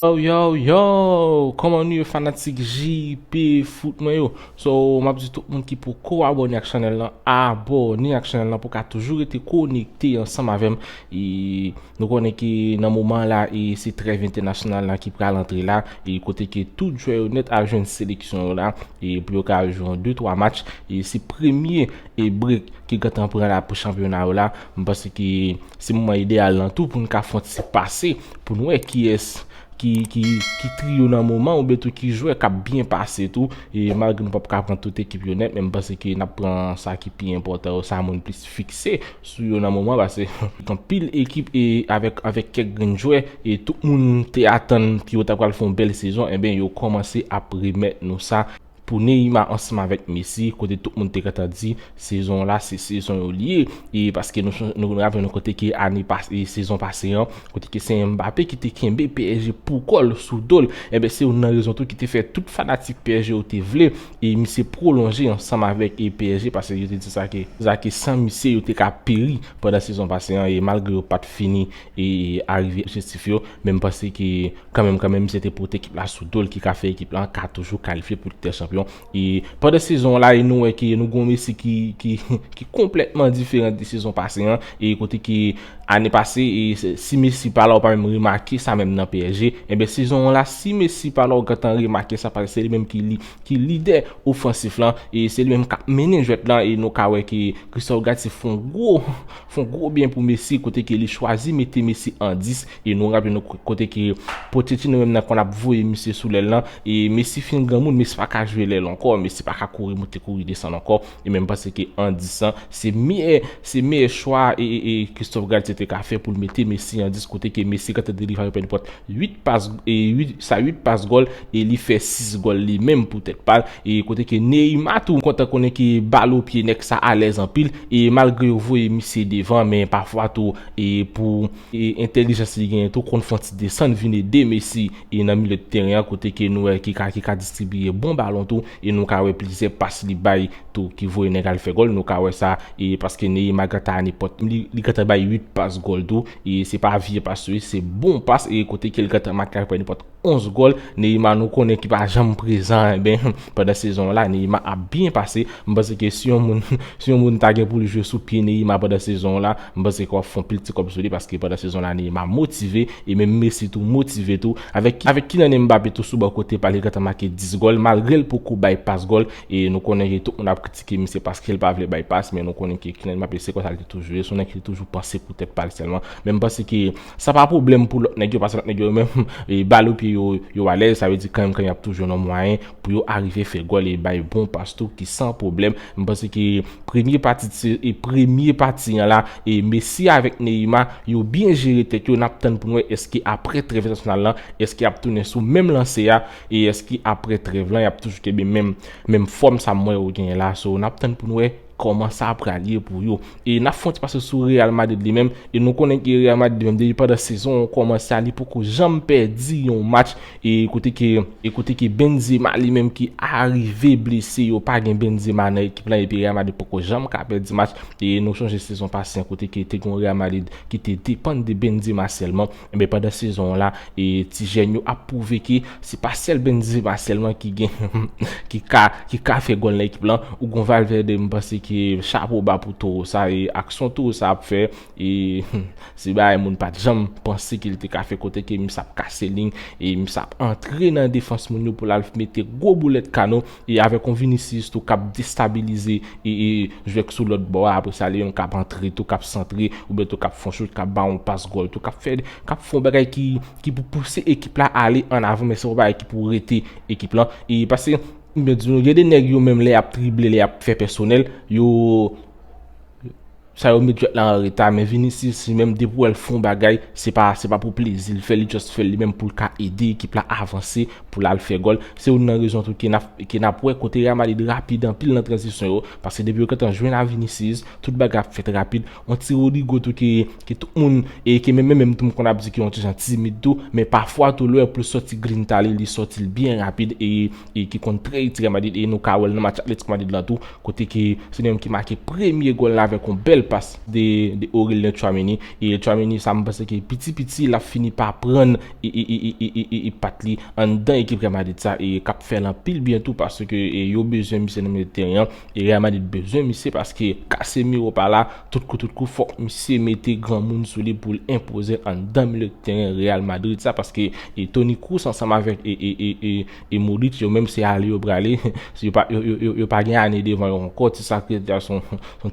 Yo yo yo, koman nou ye fanatik JP foot mwen yo So map di tout moun ki pou ko abone ak chanel nan Abone ak chanel nan pou ka toujou rete konekte ansanm avèm E Nou konnen ke nan moman la e se trèv entènasyonal la ki pral antre la e kote ke tout jwè yo nèt ap jwenn seleksyon yo la e pou yo ka jwe yon 2 3 match e se premye e brek ki gentan pran la pou chanpyona yo la m panse ke se moman ideyal lan tou pou nou ka fè yon ti pase pou nou wè kiyès ki ki triyo nan moman an oubyen tou ki jwè k ap byen pase tou e malgre nou p ap ka pran tout ekip yo nèt men m panse ke n ap pran sa ki pi enpòtan yo sa moun plis fikse sou yo nan moman pase anpil ekip e avèk avèk kèk grenn jwè e tout moun te atann ki yo ta pral fè yon bèl sezon enben yo kòmanse ap remèt nou sa pou Neyma ansanm avèk Mesi kote tout moun te gentan di sezon la se sezon yo li ye e paske nou son nou raple nou kote ke ane pas e sezon pase an kote ke se Mbappe ki te kenbe psg pou kòl sou dol enben se youn nan rezon tou ki te fè tout fanatik psg yo te vle E misye pwolonje ansanm avèk psg pase yo te di sa ke sa ke san misye yo te ka peri pandan sezon pase an e malgre yo pat fini e arive objektif yo men m panse ke kanmenm kanmenm misye te pote ekip la sou do l ki ka fè ekip la ka toujou kalifye pou Lig dè Chanpyon e pandan sezon an la e nou wè ke nou gon Messi ki ki konplètman diferan de sezon pase an e kote ke Ane pase si Messi pa la ou pa menm remake sa menm nan psg, enben sezon an la si Messi pa la ou gentan remake sa paske se li menm ki lidè ofansif lan e se li menm k ap mennen jwèt lan e nou ka wè ke Christophe Galtier fè yon gwo fè yon gwo byen pou Messi kote ke li chwazi mete Messi an 10 e nou raple nou kote ke Pochettino menm nan konn ap voye misye sou lèl lan e Messi fin granmoun, Messi pa ka jwe lèl ankò, Messi pa ka kouri moute kouri desann ankò. E menm panse ke an dis an se meyè se meyè chwa e Christophe Galtier te ka fè pou l mete Messi an dis kote ke Messi kantè de li fè pèdi pòt 8 pas e 8 sa 8 pas gòl e li fè 6 gòl li menm pou tèt pa l e kote ke Neymar tou m kontan konnen ke bal o pye nèg sa alèz anpil e malgre yo voye misye devan men pafwa tou e pou e entèlijans li genyen tou konn fon ti desann vin ede Messi e nan milye de teren an kote ke nou wè ki ka ki ka distribiye bon balon tou. E nou ka wè plizyè pas li bay tou ki voye nèg al fè gòl. Nou ka wè sa e paske Neymar gentan ane pòt li. Li gentan bay 8 pas gòl tou. E se pa vye pas tou e se bon pas e kote ke li gentan make a pwè pòt 11 gòl. Neymar nou konnen ki pa janm prezan enben pandan sezon an la Neymar ap byen pase. M panse ke si yon moun si yon moun ta gen pou li jwe sou pye Neymar pandan sezon an la m panse ke w ap fè yon pil ti kòb sou li paske pandan sezon an la Neymar motive. E menm Messi tou motive tou. Avèk Kylian Mbappé tou sou bò kote pa li gentan make 10 gòl malgre l poko bay pas gòl e nou konnen ke tout moun ap kritike misye paske l pa vle bay pas men nou konnen ke Kylian Mbappé se konsa l te toujou ye son nèg ki te toujou panse pou tèt pa l sèlman men m panse ke sa pa pwoblèm pou lòt nèg yo paske lòt nèg yo menm bal o pye yo yo alèz sa vle di kanmenm kan y ap toujou nan mwayen pou yo arive fè gòl e bay bon pas tou ki san pwoblèm, m panse ke premye pati t se e premye pati an la e Messi avèk Neymar yo byen jere tèt yo, nap tann pou n wè eske aprè trèv entènasyonal lan eske yap tounen sou menm lanse a e eske aprè trèv lan yap toujou kenbe menm menm fòm sa m wè yo genyen la so nap tann pou n wè. Kòman sa pral ye pou yo? E nap fè yon ti pase sou Real Madrid li menm e nou konnen ke Real Madrid li menm depi pandan sezon an kòmanse a li poko janm pèdi yon match e kote ke e kote ke Benzema li menm ki arive blese yo pa gen Benzema nan ekip lan epi Real Madrid poko janm ka pèdi match e nou chonje sezon pase an kote ke te gen yon Real Madrid ki te depann de Benzema sèlman. Enben pandan sezon an la, ti jèn yo ap pwouve ke se pa sèl Benzema sèlman ki gen ki ka ki ka fè gòl nan ekip lan. Ou gon Valverde m panse ke chapo ba pou towo sa e aksyon towo sa ap fè e se bagay moun pat janm panse ke li te ka fè kote ke misye ap kase lign e misye ap antre nan defans moun yo pou l al mete gwo boulèt kano. E avèk yon Vinicius tou kap destabilize jwè k sou lòt bò a, apre sa li menm kap antre tou, kap santre, oubyen tou kap fon chout, kap ba yon pas gòl tou, kap fè, kap fon bagay ki, ki pou pouse ekip la ale an avan, men se yon bagay ki pou rete ekip lan. E pase, m byen di nou, gen de nèg yo menm lè yap drible, lè yap fè pèsonèl, yo, Sa yo met jwèt la an reta men Vinicius li menm depi wèl fon bagay se pa se pa pou plezil fè li just fèl li menm poul ka ede ekip la avanse poul al fè gòl se youn nan rezon tou ke nap wè kote Real Madrid rapid anpil nan tranzisyon yo paske depi yo gentan jwenn a Vinicius tout bagay ap fèt rapid on ti Rodrygo tou ke tout moun e ke menm menm tou m konn ap di ke on ti jan timid tou men pafwa tou lè poul sòti grinta li li sòtil byen rapid e e ki konn trè itil Real Madrid e nou ka wèl nan match Atletico Madrid lan tou kote ke se li menm ki make premye gòl la avèk yon bèl pas de Aurelien Tchouaméni e Tchouaméni sa mwen panse ke piti piti lap fini pa prann e pat li anndan ekip Real Madrid sa e kap fèl anpil byen tou paske yo bezwen misye nan milieu de terrain an e Real Madrid bezwen misye paske Casemiro pa la Tout kou tout kou fòk misye mete granmoun sou li pou l enpozel anndan mile teren Real Madrid sa paske Toni Kroos ansanm avèk e Modric yo menm se ale yo prale yo pa gen ane devan yo ankò ti sa krèt la son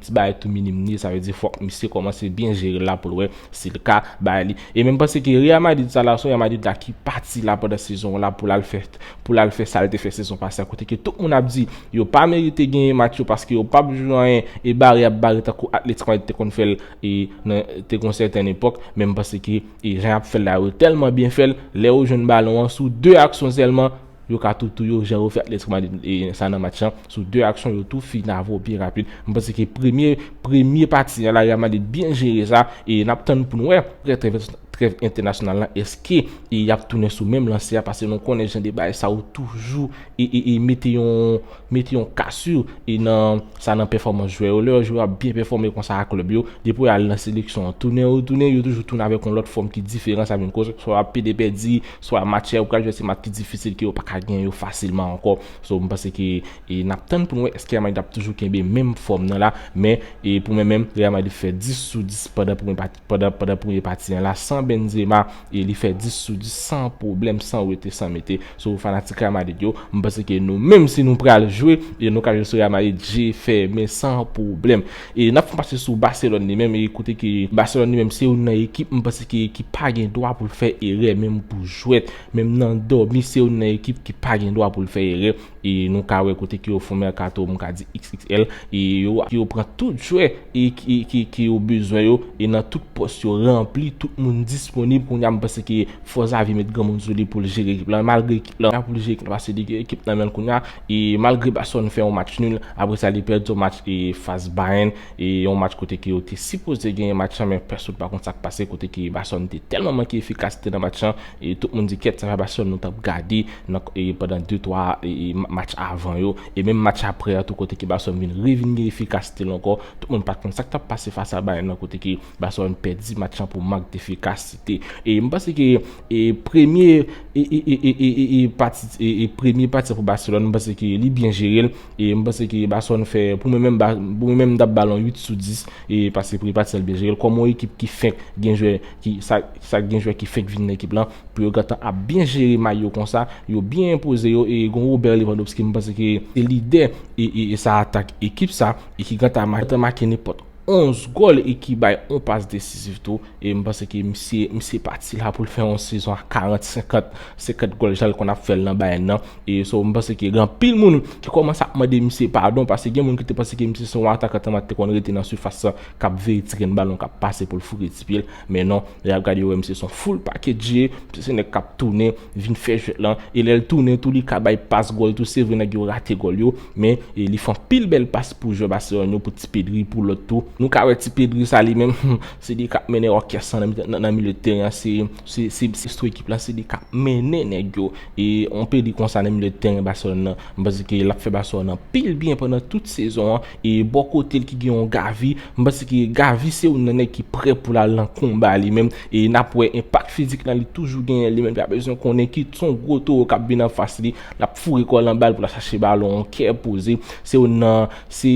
ti bagay tou minim li ye sa vle di fòk misye kòmanse byen jere l la pou l wè si l ka bay li e menm panse ke Real Madrid sa la son Real Madrid la ki pati la pandan sezon w la pou l al fè pou l al fè sa l te fè sezon pase a kote ke tout moun ap di yo pa merite genyen match yo paske yo pap jwe anyen e bare yap bare tankou Atlético Madrid te konn fè l e nan te gon sèten epòk men m panse ke e jan yap fè l la yo tèlman byen fè l lè yo jwenn balon an sou 2 aksyon sèlman yo ka tou tou yo jan yo fè Atlético Madrid e sa nan match lan sou 2 aksyon yo tou finavo byen rapid m panse ke premye premye pati a la Real Madrid byen jere sa e nap tann pou n wè prè trè Trèv entènasyonal lan eske e yap tounen sou menm lanse a pase nou konnen jan de bagay sa yo toujou e e e mete yon mete yon kasur e nan sa nan pèfòmans jwè yo lè yon jwè ap byen pèfòme konsa a klèb yo depi al nan seleksyon an tounen yo tounen yo toujou tounen avèk yon lòt fòm ki diferan sa vin koz swa ap pede pèdi swa match yap pral jwè se match ki difisil ke yo paka gen yo fasilman ankò so m panse ke e nap tann pou nou wè eske Real Madrid ap toujou kenbe menm fòm nan la men e pou mwen menm Real Madrid fè 10 sou 10 pandan pou mwen pa Pandan pandan premye pati an la san Benzema e li fè 10 sou 10 san pwoblèm san wete san mete sou fanatik Real Madrid yo m panse ke nou menm si nou pral jwe e nou ka jwe sou Real Madrid je fèmen san pwoblèm e nap fon pase sou Barcelone li menm e kote ke Barcelone li menm se youn nan ekip m panse ke ki pa gen dwa pou l fè erè menm pou jwèt menm nan dòmi se youn nan ekip ki pa gen dwa pou l fè erè. E nou ka wè kote ke yo fon mercato m ka di xxl e yo ke yo pran tout jwè e ki ke yo bezwen yo e nan tout pòs yo ranpli tout moun disponib kounya m panse ke fò Xavi met granmoun sou li poul jere ekip lan malgre ekip lan poul jere ekip lan pase li gen ekip nan menl kounya e malgre Barcelone fè yon match nul apre sa li pèdi yon match e fas Bayern e yon match kote ke yo te sipoze genyen match lan men pèsonn pa konn sak pase kote ke Barcelone te tèlman manke efikasite nan match lan. E tout moun di kèt sa pa sèl nou tap gade nan pandan 2 3 match avan yo e menm match aprè a tou kote ke Barcelone vin re vin gen efikasite l ankò tout moun pat konn sak tap pase fas a Bayern nan kote ke Barcelone pèdi match lan pou mank defikasite e m panse ke e premye e e e e e e pati e e premye pati pou Barcelone m panse ke li byen jere l E m panse ke Basonn fè, pou mwen menm, pou mwen menm m tap bal yon 8 sou 10, e paske prepa t sèl byen jere l kòm yon ekip ki fenk gen jwè ki sa sa gen jwè ki fenk vin nan ekip lan pou yo gentan ap byen jere may yo konsa, yo byen enpoze yo e gon Robert Lewandowski m panse ke se lidè e sa atak ekip sa e ki gentan make nenpòt. 11 gòl e ki bay yon pas desizif tou e m panse ke misye misye pati la pou l fè yon sezon a 40 50 50 gòl jan l konn ap fè l nan Bayern nan e so m panse ke gen anpil moun ki kòmanse ap mande misye padon paske gen moun ki te panse ke misye se yon atakan tèlman te konn rete nan sifas lan k ap veye ti grenn balon k ap pase pou l fouke ti pye l Men non, lè yap gade yo wè misye son full package, misye se nèg kap tounen vin fè jwèt lan, e lèl tounen tou li ka bay pas gòl tou, se vre nèg yo rate gòl yo, men li fè anpil bèl pas pou jwè Barcelone yo, pou ti Pedri, pou lòt tou, nou ka wè ti Pedri sa li menm, humm, se li kap mennen òkès lan nan milye tèren an, se mestro ekip lan, se li kap mennen nèg yo, e yon Pedri konsa nan milye tèren Barcelone lan, m panse ke lap fè Barcelone anpil byen pandan tout sezon an, E bò kote l ki gen yon Gavi, m panse ke Gavi se youn nan nèg ki prè pou l al nan konba li menm. E n ap wè enpak fizik lan li toujou genyen li menm. Li pa bezwen konnen ki t son gwo towo k ap vin anfas li. L ap foure kò l anba l pou l al chache balon an kè poze. Se youn nan se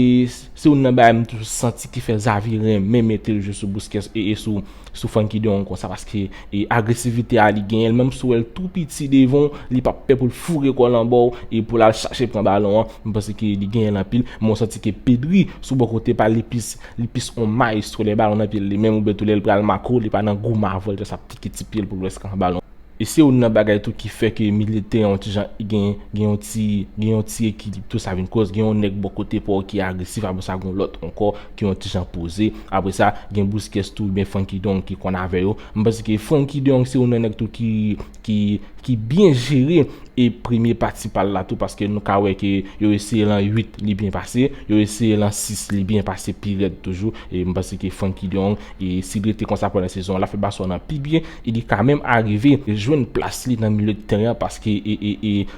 youn nan bagay m toujou santi ki fè Xavi renmen mete l jwe sou Busquets e sou. sou Franky de yon konsa paske e agresivite a li genyenl menm sou wèl tou piti devanw li pap pè poul foure kòl anbaw e poul al chache pran balon an m panse ke li genyenl anpil men ou santi ke Pedri sou bò kote pal li plis li plis yon maestro lè balon nan pyel li menm oubyen tou lèl pral mako li pa nan gou mavòl jès ap tike ti pyel poul wè skan balon E se youn nan bagay tou ki fè ke milye teren yon ti jan gen gen yon ti gen yon ti ekilib tou sa vin koz gen yon nèg bò kote pa w ki agresif apre sa gen yon lòt ankò ki yon ti jan poze apre sa gen Busquets tou oubyen Frenkie de Jong ki konn avè yo m panse ke Frenkie de Jong se youn nan nèg tou ki ki ki byen jere e premye pati pa l la tou paske nou ka wè ke yo eseye lan 8 li byen pase yo eseye lan 6 li byen pase pi rèd toujou e m panse ke Frenkie de Jong e si l rete konsa pandan sezon an l ap fè Barcelone an pi byen E li ka menm arive jwenn plas li nan milye tèren an paske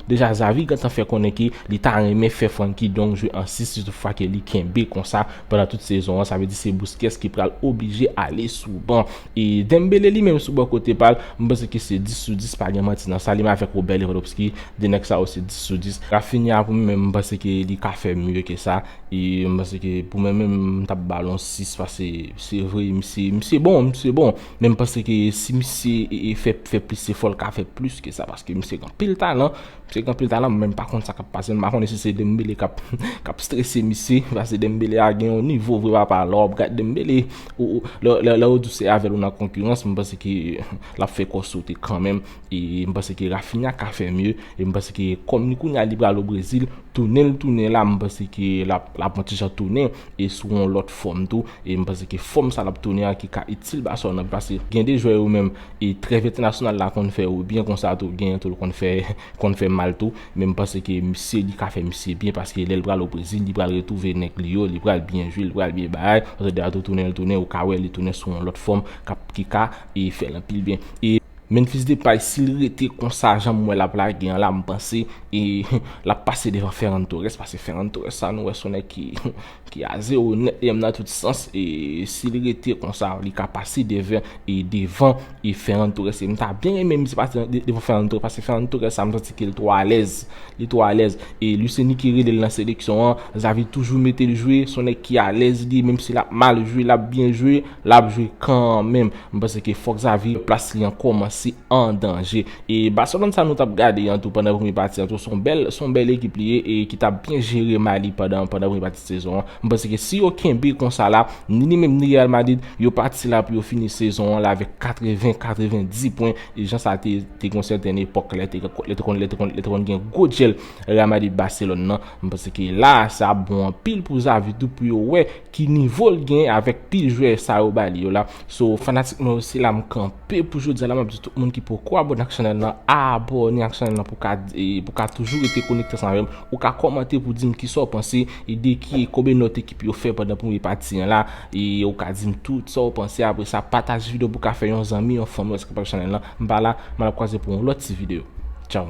deja Xavi gentan fè konnen ke li ta renmen fè Frenkie Dong jwe an 6 si tout fwa ke li kenbe konsa pandan tout sezon an. Sa vle di se Busquets ki pral oblije ale sou ban. E Dembele li menm sou bò kote pa l, m panse ke se 10 sou 10 pa gen manti nan sa. Li menm avèk Robert Lewandowski, 2 nèg sa yo se 10 sou 10. Raphinha pou mwen menm m panse ke li ka fè mye ke sa. E m panse ke pou mwen menm m ta ba l yon 6 paske se vre misye bon, misye bon. Men m panse ke si misye fè fè plis efò l ka fè plis ke sa paske misye gen anpil talan, misye gen anpil talan men m pa konn sa kap pase l, m pa konnen si se Dembele kap kap strese misye paske Dembele a gen yon nivo vre papa lè wap gad Dembele ou lè ou di w se avè l ou nan konkirans m panse ke lap fè kò w sote kanmenm. E m panse ke Raphinha ka fè mye, e m panse ke kòm li kounye a li pral o Brezil, tounen li tounen la m panse ke l ap l ap yon ti jan tounen e sou yon lòt fòm tou, e m panse ke fòm sa l ap tounen an ki ka itil Barcelone anpil paske gen de jwè yo menm e trèv entènasyonal la konn fè yo byen konsa tou genyen tou l konn fè konn fè mal tou, men m panse ke misye li ka fè misye byen paske lè l pral o Brezil li pral retwouve nèg li yo, li pral byen jwe, li pral byen bay, Ozodao tou tounen li tounen ou ka wè li tounen sou yon lòt fòm k ap ki ka e fè l anpil byen. E. Menfis Depay sil rete konsa janm wè lap lage an la m panse lap pase devan Ferran Torres pase Ferran Torres sa nou wè son nèg ki a zero nèt li menm nan tout sans e sil rete konsa li ka pase devan devan Ferran Torres e m ta byen renmen misye pase devan Ferran Torres pase Ferran Torres sa m santi ke li twò alèz li twò alèz e Luis Enrique rele l nan seleksyon an Xavi toujou mete l jwe son nèg ki alèz li menm si lap mal jwe lap byen jwe. Lap jwe kanmenm. M panse ke fòk Xavi plas li an kòmanse an danje. E Barcelone sa nou tap gade an tou pandan premye pati an tou son bèl son bèl ekip li ye e ki tap byen jere may li pandan pandan premye pati sezon an. M panse ke si yo kenbe konsa la, ni li menm ni Real Madrid yo pati la pou yo fini sezon an la avèk 80, 90 pwen e jan sa te te gon sèten epòk lè te lè te konn lè te konn lè te konn gen gwo dyèl Real Madrid Barcelone nan. M panse ke la sa ap bon anpil pou Xavi tou pou yo wè Ki nivo l gen avèk pil jwè sa yo ba li yo la. So fanatik mwen yo se la m kanpe pou jodi a la map di tout moun ki poko abone ak chanèl lan abone ak chanèl lan pou ka pou ka toujou rete konekte ansanm avèm ou ka kòmante pou dim kisa w panse e de ki e konbyen nòt ekip yo fè pandan premye pati an la e ou ka dim tou sa w panse apre sa pataje video pou ka fè yon zanmi yon fanmi rès k ap chanèl lan m pa la m al ap kwaze pou yon lòt ti video tchaww.